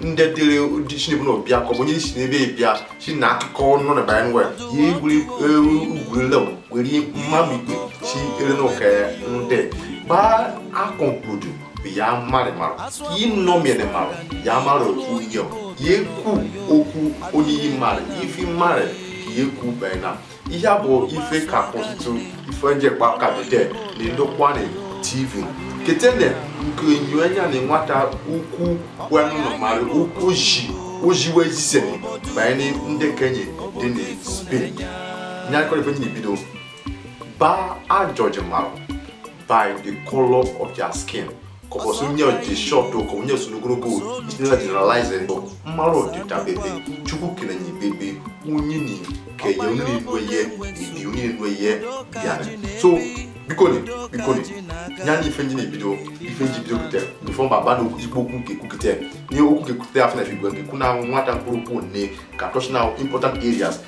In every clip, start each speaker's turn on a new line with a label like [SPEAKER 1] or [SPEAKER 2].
[SPEAKER 1] ndị dịrị ụdị chinebe na ọbịa ka ọ bụ onye si n'ebe bịa si na akụkọ ọnụ na bara nwa ya egwuri eru ugwurele were mmadụ ikpe si ere na ụka ya ndị ba a conclude ya mmadụ mara yi nnọ mere mara ya mara otu ihe ya ekwu okwu onye yi mara ife mara ka ya ekwu bena ihe a bụ ife ka ọtụtụ ife njekpa ka dede na ndokwa ne tv ketene nke enyo anya na nwata ukwu wenụnụ mara ukwu ji ojiwe jisere banye na ndị ke enyi dị na spain nyakọrọ ife nyi bido ba a judge mmarụ by the color of their skin ka ọ bụsị onye dị short ka onye so n'ogologo itinela generalize ndụ mmarụ ọdịda bebe chukwu kele enyi bebe onye na kenye onye na-enwe ihe ebi onye na-enwe ihe bịara so biko ni biko ni nya ni ife nji na ebido ife nji bido kute before ma ba na igbo okwu nke kukute ni okwu nke kute afọ na fi gwe nke kuna nwata mkpụrụ pụ nne ka touch now important areas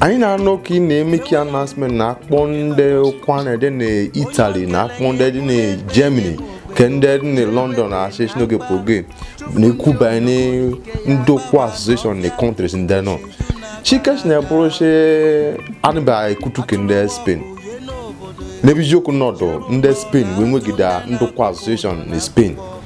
[SPEAKER 2] anyị na-anụ ka ị na-eme ka announcement na akpọ ndị ụkwụanị dị na Italy na akpọ ndị dị na Germany ka ndị dị na London na association oge program na-ekwu banye ndokwa association na countries ndị nọ chikes na-ebụrụ si anụba ekutu ka ndị Spain n'ebe eziokwu nọdụ ndị Spain wee nwegide ndokwa association na Spain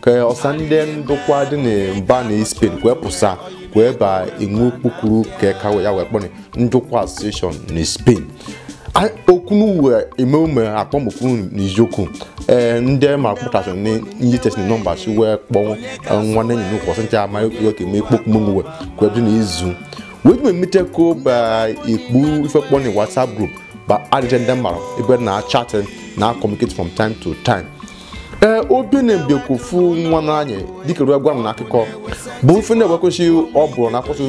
[SPEAKER 2] ka ọsa ndị ndokwa dị na mba na spain kwee pụsa kwee ba inwe kpukuru ka ka ya wee kpọrọ ndokwa association na spain A- okwu n'uwe eme ume akpọmokwu n'iziokwu ee ndị ma kpụtasị na ndị tesịrị nọmba si wee kpọọ nwanne enyi n'ụkwụ ọsị ncha ama ekwu ka eme ikpokwu mụnwe ka ebi na izu wee ji mmete ka o ba ikpu ife kpọ na whatsapp group ba add je ndị mmarụ ebe na chat na communicate from time to time ee obene bekwofu nwanna anyị dịka ruo gwa m na akụkọ bụ ife na-ewekwesị ọ bụrụ na akwụsị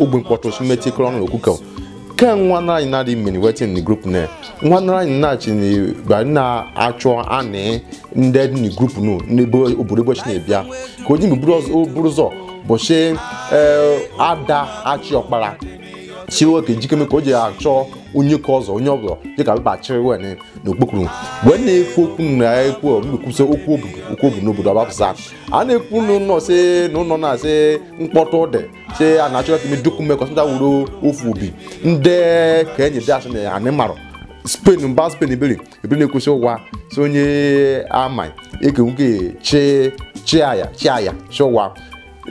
[SPEAKER 2] ogbe mkpọtụ simeti kọrọ ọnụ okwukọ ke nwanna anyị na-adị mmiri wetin ni group na nwanna anyị na-achị na na-achọ anị ndị dị na group nu n'ebe obodo ụbọchị na-ebịa ka o ji mgbe buru ụzọ bụchị ada achị ọkpara chi nwoke njikere ka o ji achọ onye ka ọzọ onye ọbụla dịka mkpachiri wen n'okpokoro wee na-ekwu okwu na ekwu mmekwusa okwu obodo okwu obodo n'obodo ọbapụsa a na-ekwu n'ụlọ si na ụlọ na-asị mkpọtụ dị si a na-achọ ka medukwu mmekọ sịta wuru ofu obi ndị ka enyi dị asị na anị mmarụ spain mba spain ebere ebere na-ekwesị ụwa si onye ama eke nwoke chi chi aya chi aya chi ụwa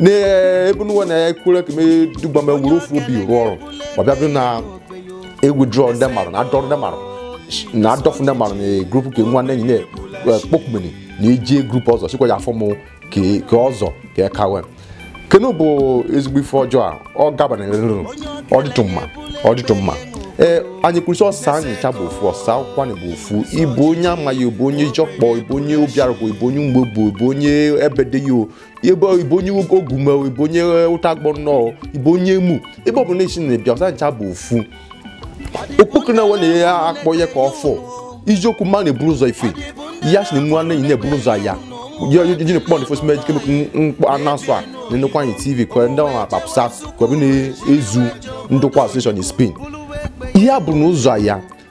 [SPEAKER 2] n'ebe n'ụwa na-ekwere ka mee dugba ma wuru ofu obi rụọ ọrụ ma bịa bụrụ na e withdraw ndị mmadụ na-adọrọ ndị mmadụ na-adọfụ ndị mmadụ na group ka nwanne enyi na-ekpokpumeni na-eji group ọzọ sikwa ya afọ mụ ka ka ọzọ ka eka wee kenu bụ ezigbo ife ọjọọ a ọ gabana nrụrụ ọ dịtụ mma ọ dịtụ mma ee anyị kwurịsị ọsa anyị ncha bụ ofu ọsa Ụkwụanị bụ ofu ị bụ onye Amai ị bụ onye Eziokpọ ị bụ onye Obiarụkụ ị bụ onye Umuebu ị bụ onye Ebedei o ebe ị bụ onye Ogume ị bụ onye Ụtagba Ụnọ ị bụ onye Emu ebe ọbụla i si na-abịa ọsa ncha bụ ofu okpoko na wena ya akpọ ya ka ọfọ iziokwu mma na-eburu ụzọ ife ya si na nwa na enyi na-eburu ụzọ ya ji na kpọnd fos mej kemik mkpọ anasụ a na Ụkwụanị TV ka ndị ọrụ akpapụsa ka ọ bụ na-ezu Ndokwa association Spain ihe a bụ na ụzọ ya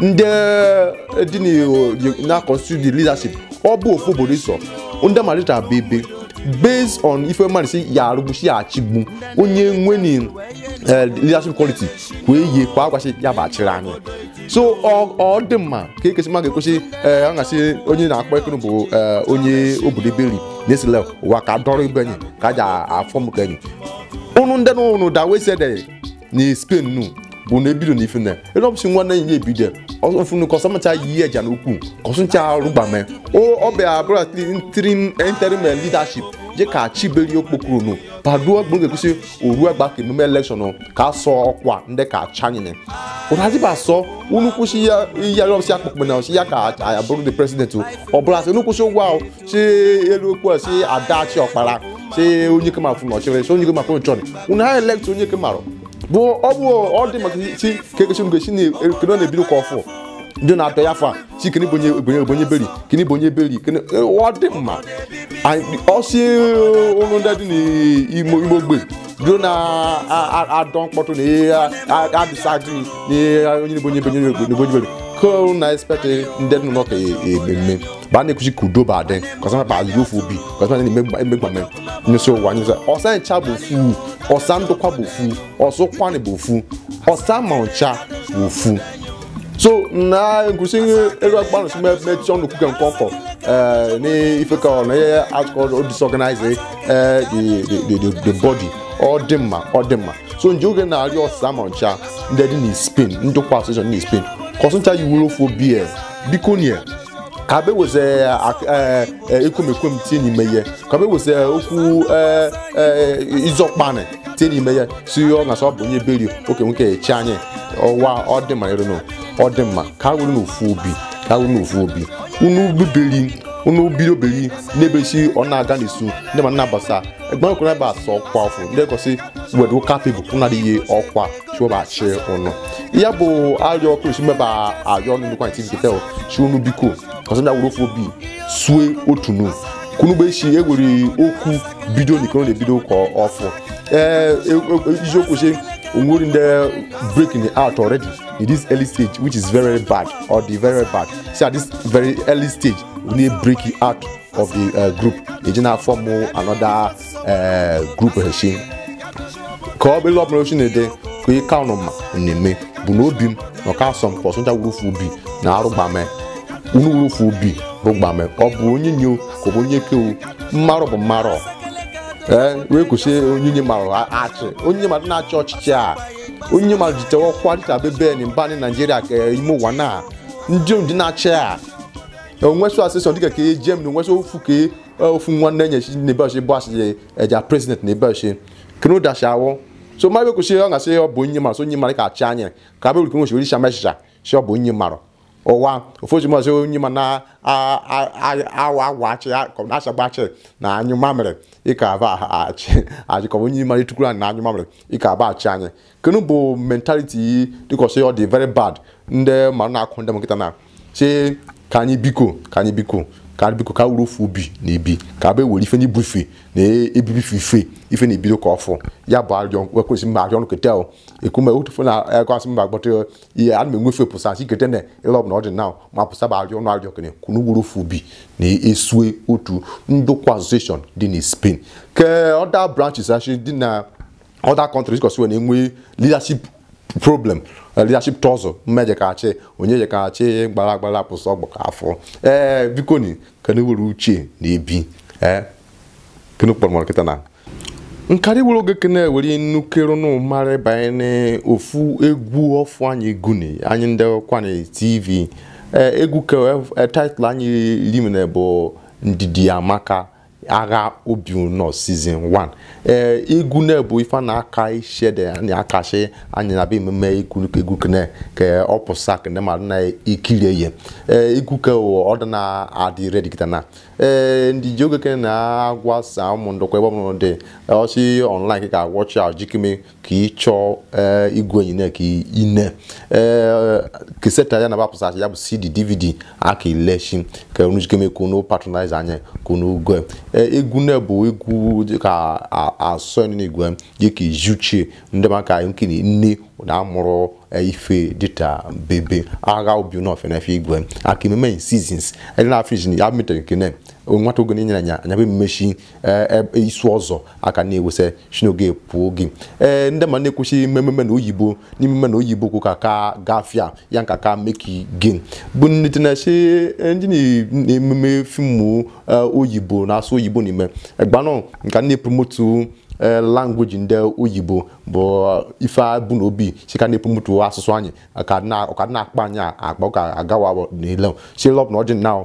[SPEAKER 2] ndị dị n'Igbo ji na-constitute the leadership ọ bụ ofu obodo iso ndị malita bụ ebe based on ife mmadụ si ya arụgbu si ya achịgbu onye nwere eh, leadership quality kwa eyi kwa akwasị ya bụ achịrị anyị so ọ ọ dị mma ka ekesi mmadụ ekwesị ee a gasị onye na-akpọ ekene bụ eh, onye obodo ebe nri na-esile ụwa ka dọrọ ibe enyi ka a ji afọ m ka enyi unu ndị na unu da wesede na Spain nu bụ na ebido na ife na ele ọbụsị nwa na enyi ebido ọfụnụ ka ọsa ma ncha yi ihe ja na ukwu ka ọsa ncha arụgbame ọ bịa abụrụ ntrim interim leadership je ka chiberi okpokoro nu paduo gburu ga-ekwesị oru agba ka emume election ka asọ ọkwa ndị ka chanyere ụraziba asọ unu kwụsị ya ihe ọbụsị akpụkpụ na ọsị ya ka abụrụ the president ọ bụrụ asị unu kwụsị ụgwọ ahụ si elu okwu a si adachi ọkpara si onye kema fụ n'ọchịrị si onye kema fụ n'ọchịrị unu ha elect onye kemarụ bụ ọ bụ ọ dị maka si ka ekesi mgbe si na-ekene na-ebido ka ọfụ ndị na-atọ ya fa si kene bonye bonye bonye beri kene bonye beri kene ọ dị mma Anyị- ọ si ụlọ ndị dị n'ime ime ogbe ndị na-adọ mkpọtụ na ihe adịsa gị na ihe onye na-ebonye bonye bonye beri ka na expect ndị dị n'ụlọ ka ememme ba a na-ekwuchi ka udo ba dị ka ọsa mapa azụ ofu obi ka ọsa na-emegbame nyụsị ụwa nyụsị ọsa ncha bụ ofu ọsa Ndokwa bụ ofu ọsa Ụkwụanị bụ ofu ọsa ma ncha bụ ofu so na nkwụsị ego akpanụ si mechie ọnụ kwuke nke ọkọ eh, n'ife ka ọ na ihe akụkọ disorganize eh, the- the- the- the- the body ọ dị mma ọ dị mma so nje oge na-arịọsị ọsa ma ncha ndị dị na Spain Ndokwa association na Spain ka ọsa ncha yiwere ofu obi biko nie ka be weze ekwumekwem tie n'ime ya ka be weze okwu izọkpani tie n'ime ya si ọ na sọ bụ onye beri oke nwoke echi anyị ọwa ọ dị mma ịrụnụ ọ dị mma ka were n'ofu obi ka were n'ofu obi unu biberi unu biri oberi na-ebesi ọ na-aga n'isu ndị ma na-abasa egbe ọkụrụ ebe asọ ọkwa ọfụ ndị gosi wedu kapịbụ ụnadịghị ọkwa chụọbachi ụnụ ya bụ arịọ ọkụ esi meba arịọ ụnụ Ndokwa ntị nketa si unu biko ọsa bịa were ofu obi sue otu nu kunugbe isi ewere okwu bido na ikoro na-ebido ka ọfụ ee eziokwu si onwere ndị breaking out already in this early stage which is very very bad ọ dị very very bad see at this very early stage we need breaking out of the uh, group eji na form another ee group shi ka ọ bụla ọbụla ochi na-ede ka ị ka nọ ma na-eme bụ na obi m na ọka asọ m ka ọsa ncha were ofu obi na arụgbame unu were ofu obi rụgbame ọ bụ onye nye ka ọ bụ onye kewu mmarụ bụ mmarụ ee wee kwụsị onye nye marụ achị onye nye mmadụ na-achị ọchịchị a onye nye mmadụ jitewa ọkwa dịka bebe na mba anyị naijiria ka ime ụwa na ndị ndị na-achị a onwesụ asịsọ dịka ka ejem na onwesụ ofu ka ofu nwanne anyị shi n'ebeọchị bụ asị eja president na ebeọchị kenu dashi awụ so ma be kwu sị ọ gasị ọ bụ onye mara so onye mara ka achị anyị ka be kwuru kwuru shama echicha si ọ bụ onye mara ụwa ofoji mazị onye ma na awa agwa achị achagba achị na anyụ mamịrị ịka aba achị achị ka onye mara etukwuru na anyụ mamịrị ịka aba achị anyị kenu bụ mentality yi dịka ọsọ ya ọ dị very bad ndị ma na-akụ ndị m kịta na si ka anyị bikọ ka anyị bikọ ka anyị bikọ ka were ofu obi na ebi ka abịa were ife n'ibufe na ebibi ife ife ife na ebido ka ọfụ ya bụ arịọ wekwesị mma arịọ nketa ahụ ekume otufu na agwasị mma agbata ihe ana m enwefe pụsa si kete na ịlọ bụ na ọ dị na ma pụsa bụ arịọ ụnụ arịọ kene ka unu were ofu obi na esue otu ndokwa association dị na Spain ke other branches anyị dị na other countries kọsiwe na enwe leadership problem eh, leadership tussle mme je ka achị onye je ka achị gbara agbara pụsị ọgbọ ka afọ ee eh, biko ni ka na were uche na ebi ee eh, kenu kpọrọ mara kịta na nkarị were oge kene were nnukere nụ mara banyere ofu egwu ọfụ anyị guni anyị Ndokwa anyị tv egwu ka title anyị limene bụ ndidi amaka agha obi ụnọ season 1 ee egwu na bụ ife na aka ishede na akashi anyị na be emume egwu egwu kene ka ọ pụsa kene madụ na ekiri ye ee egwu ke ọ dị na adị ready kịta na ee ndị ji oge kene na agwa ọsa ụmụ Ndokwa ebe ọbụla dị ọ shi online ka watch ahụ jikime ka ị chọọ ee igwe enyi na ka ine ee keseta ya na bapụsa ya bụ cd dvd aka eleshi ka unu jikeme ka unu patronize anyị ka unu gwe Ee, egwu na bụ egwu dị ka asọ n'igwe gị ka izuchie ndị maka nke na nne na amụrụ eh, ife dịta bebe agha obi na ofenefe igwe aka ememe in seasons anyị na-afriji ya mitere nke na nwata oge na-enyere anya anya bụ mmechi ee e, isu ọzọ aka na-ewesa shi n'oge pụọ gị ee ndị ma na-ekwuchi mmemme na oyibo n'ime na oyibo kwu ka ka gafia ya nka ka make gain bụ ndị na-achị eh, ndị na-ememe fimu eh, oyibo na-asụ oyibo n'ime egbanụ nka na-epromotu eh, language ndị oyibo bụ ife a bụ n'obi si ka na-epromotu asụsụ anyị ka na- ọ ka na-akpa anyị akpa ọ ka agawa n'ile chilọp na ọjị na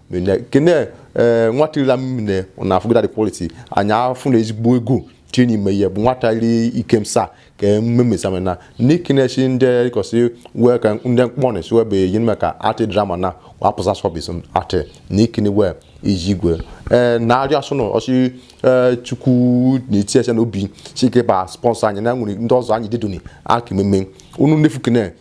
[SPEAKER 2] mine kene ee eh, nwata ila mine na afụgida the quality anyị afụ na ezigbo ego tinye n'ime ihe bụ nwata iri ikem saa ka mmemesame na n'ikene chi ndị ịkọsị wee ka ndị mkpọnị si webe yi nime ka act drama na wapụsa sọbis atị n'ikene wee iji igwe ee eh, na-arịọ asụ na ọchị eh, chukwu na-eti ese n'obi si ka ba sponsor anyị na nwere ndị ọzọ anyị dịdoni aka ememe unu nnefu kene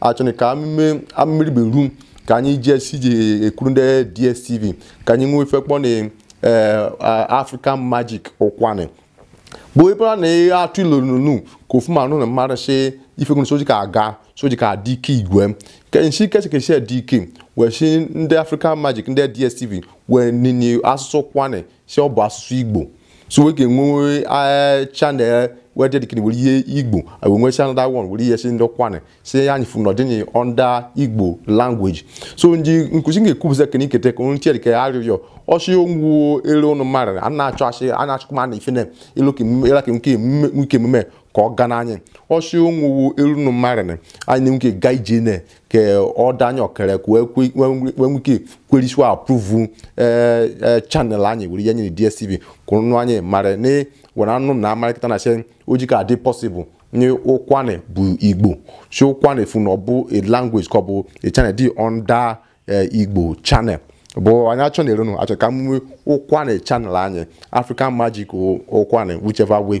[SPEAKER 2] achọrọ ka amụme amụmiribe ru ka anyị ji esi je ekwuru ndị dstv ka anyị nwee ife akpọ na eh, a- african magic ụkwanị bụ ebe a na-atụ ilo nunu ka ofu ma nụ na mmadụ si ifegonu soji ka aga soji ka adị ike igwe ke nshi kechi kechi dị ike wee si ndị african magic ndị dstv wee nini asụsụ ụkwanị si ọ bụ asụsụ igbo so wee ga-enwe eh, channel wee dedicate were ihe igbo wee nwee channel that one were ihe si ndị ụkwanị si anyị fụ na ọ dị under igbo language so ndị nkụzi ga-ekwupụta ka n'ikete ka onye tiere ka arịrịọ ọchị onwuo elu ụnụ mmadụ a na-achọ achị a na-achọkwa ma a na-efe na elu ka emume- ela ka nke emume nke emume ka ọ ga n'anya ọchị onwuo elu ụnụ mmadụ anyị na-enwe ike gaa ije na ke ọda anyị ọkere ka wee kwe- wee nwe- wee nwee ike kwerisua approve ee ee channel anyị were ihe nyere dstv kwụrụ nụ anyị mara na were anụ na amarị kịta na sị oji ka adị possible na ụkwanị bụ igbo si ụkwanị fu na ọ bụ a language ka ọ bụ a channel dị under ee, igbo channel bụ anyị achọ na erenu achọ ka m nwee ụkwanị channel anyị african magic ụkwanị whichever way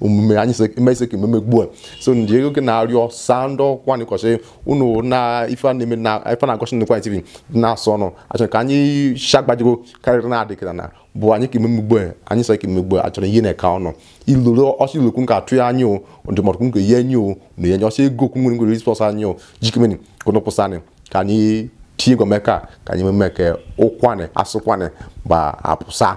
[SPEAKER 2] omume anyị se- eme ise ka ememe gbuo so ndị ego gị na-arịọ ọsa ndokwa na ịkọchị unu na ife a na-eme na ife na-egosi ndokwa tv na-asọ unu achọrọ ka anyị shagbajigo karịrị na-adị kịta na bụ anyị ka ememe gbuo anyị sị ka ememe gbuo achọrọ ihe na-eka ọnụ iluru ọsọ ilokwu nke atụ ya anyị o ndụmọdụ nke ihe anyị o na ihe nye ọsọ ego okwu nwere nwe response anyị o jikemeni ka ụnụ kwụsị anyị ka anyị tinye gọmeka ka anyị ememe ka ụkwanị asụ ụkwanị gba apụsa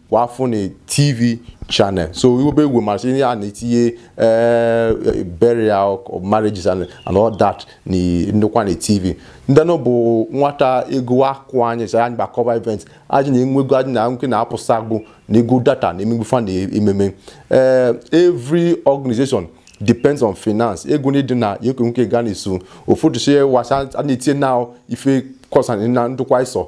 [SPEAKER 2] kwa afọ na tv channel so iwebe egwu masị ihe a na-etinye eh, burial or marriages and, and all that na ndokwa anyị tv ndị nọ bụ nwata ego akwụ anyị sị anyị bịa cover event anyị na-enwe ego anyị na-enwe ike na-apụsa agụ na ego data na emegbu fa na ememe Eh, every organization depends on finance ego na-edi na ekwe nwe ike gaa na-eso ụfọdụ si wasa a na-etinye na ife concern ndokwa iso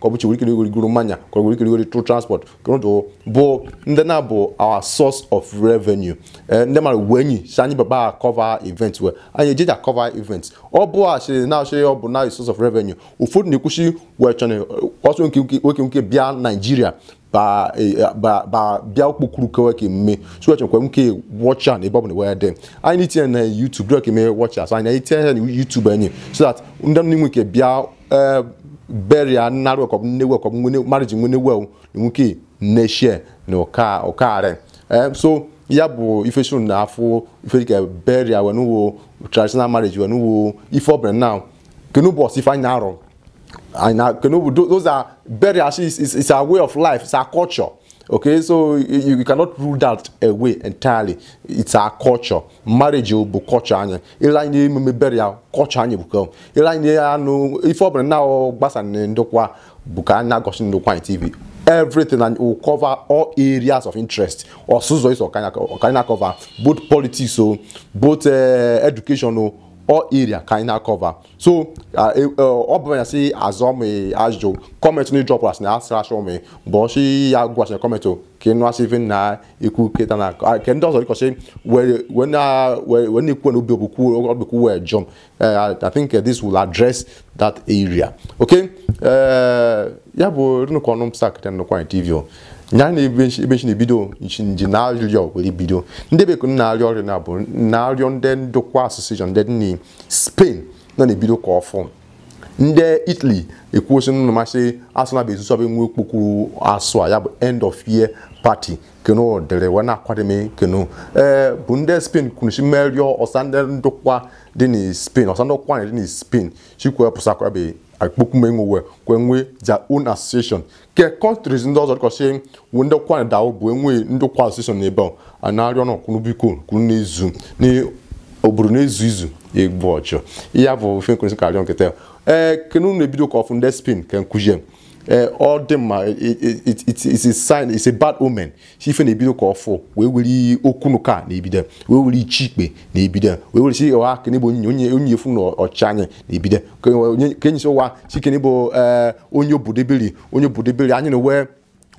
[SPEAKER 2] ka ọ bụ weri goro mmanya ka ọ bụ ikiri rigoro through transport kụrụdụ bụ ndị na-abụ our source of revenue Eh, ndị mara uwe enyi si anyị baba cover event we anyị eji ja cover event ọ bụ a sịrị na asịrị ọ bụ na source of revenue ụfọdụ na-ekwusi wee chọrọ ọsọ nke nke- nwe ike nke bịa nigeria ba eh, ba ba bịa okpokuru kewe ka emume so wee chekwa nke watch a n'ebe ọ bụla we dị anyị na-etinye na YouTube dịrọ ka eme watch as anyị na-etinye ya na YouTube anyị so that ndị m nwe ike bịa eh, burial nnarụ ọkọbụ nne we ọkọbụ nwene marriage nwene we nwe ike na-share na ụka ụkarị Eh, so ya bụ ife so na afọ ife dịka burial wenuwo traditional marriage wenuwo ife ọbụla na kenu bụ ọsa ife anyị na-arụ and na kenu bụ those are burial actually is, is, is our way of life it's our culture okay so you, you cannot rule that away entirely it's our culture marriage bụ culture anyị ile anyị na-eme burial culture anyị bụ ile anyị na-anụ ife ọ bụla na gbasa ndokwa bụ ka anyị na-egosi ndokwa anyị tv everything and we cover all areas of interest ọsa ụzọ iso ka anyị na-cover both politics o both uh, education o all area ka anyị na-cover so e, e, ọ bụ ya si azọ m ajụjụ comment na ị drop asị na asịrị achọ m bụ ọchị ya gwasịrị comment ka ịnụ asị ife na ikwu keta na nke ndị ọzọ dịkọchị wee na-ekwu na obi ogbukwu ogbukwu wee jụ m I think uh, this will address that area okay ya bụ nnukwu ọnụ m start ndokwa anyị tv nya na ebe nchi na-ebido nchi nji na-arịọ were bido ndị bekee na-arịọ ọrịa na bụ na-arịọ ndị ndokwa association dị ni spain nọ na-ebido ka ọfụ ndị italy ekwuosi nụ masị asụ na bezusu abụ enwe okpokwu asụ a ya bụ end of year party kenu dere wee na-akwademe kenu ee bụ ndị spain kwuruchi merịọ ọsa ndị ndokwa dị na spain ọsa ndokwa na dị na spain chikwe pụsakwa ebe akpokwu menwe wee kwe nwee their own association ke countries ndị ọzọ dịkọsị wu ndokwa dawo bụ enwe ndokwa association n'ebe ọ a na-arịọ na ka unu biko ka unu na-ezu na ọ bụrụ na ezu izu egbu ọchụ ya bụ ife nkwesị ka arịọ kịta ee kenu na-ebido ka ọfụ ndị spain ka nkuzie ee ọ dị mma it's a sign it's a bad omen si ife na-ebido ka ọfụ wee were okwu n'ụka na-ebido wee were ichi ikpe na-ebido wee were si ọha kene bụ onye onye onye efu na ọchịchị anyị na-ebido Ke- onye- ka enyi si ụwa si kene bụ eh, onye obodo eberi onye obodo eberi anyị na wee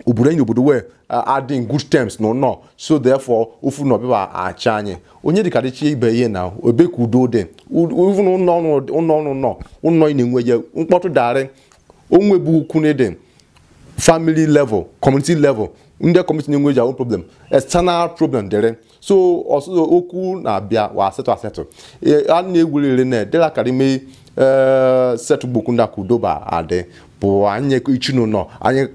[SPEAKER 2] obodo anyị na obodo wee adị in good terms na ụnọ so therefore ofu na ọbịba achị anyị onye dịka dịchi ibe ihe na ebe ka udo dị ofu na ụnọ ọnụ ụnọ ọnụ nọ ụnọ ị na-enwe ya mkpọtụ darị onwe bụ ukwu na ịdị family level community level ndị community na-enwe their own problem external problem dịrị so also okwu na-abịa wa asetụ asetụ E, a na-egwurịrị na dela karịme setụgbokwu ndị a ka udo ba adị bụ anyị ichi n'ụnọ anyị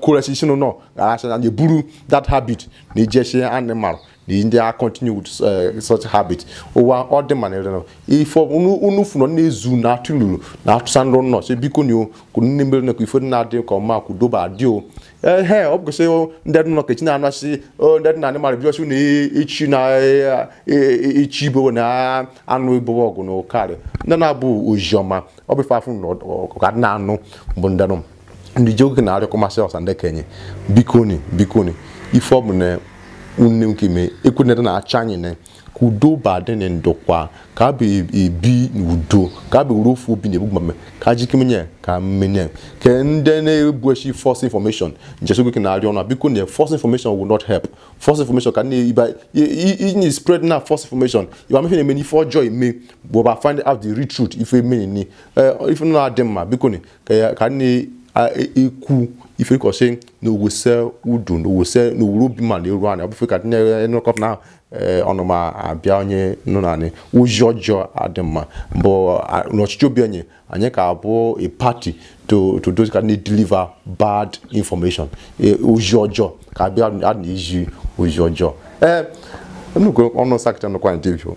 [SPEAKER 2] kwuresi ichi n'ụnọ aracha anyị buru that habit na ijechi anị marụ ndị a continue with uh, such habit ụwa ọ dị mana ịrịọ ife unu fụrụ na-ezu na atụlulu na atụsa nrọ nnọọ sị biko nyo kwuru nne mere na ife na-adị ka ọma ka udo ba adị o ehe ọ bụkwasị ndị dị ụnọ ka echi na-anasị ndị dị na anị marụ bịọsị na echi na echi ibo na anụ ibo ọgụ na ụkarị ndị na-abụ oziọma ọ bụ ife afụ na ọka na-anụ bụ ndị nọ ndị ji oge na-arịọ commercial ọsa ndị kenye bikoni bikoni ife ọbụna nne nke ime ekwenere na acha anyị na ka udo ba adị na Ndokwa ka abụ ebi n'udo ka abụ were ofu obi na-ebu gbame ka ajike menye ka mmenye ka ndị na-ebu echi false information njeso gị na-arịọ unu biko na false information will not help false information ka na-eba inye spread na false information ịba mefe na-eme n'ife ọjọọ eme but find out the real truth ife emenini ife na-adị mma biko na ka ya ka nne a- e- ekwu ife kọsị na owese udo na owese na owuru obi ọma na eru anyị ọbụfe ka nne nrọkọp na ee, ọnụma abịa onye nụ na anyị ozi ọjọọ adị mma but a- n'ọchịchị obi anyị anyị ka abụ a party to to those ka na-edeliver bad information e, ozi ọjọọ ka abịa a na-ezi ozi ọjọọ ee nnukwu ọnụ sakịta nụkwa anyị debio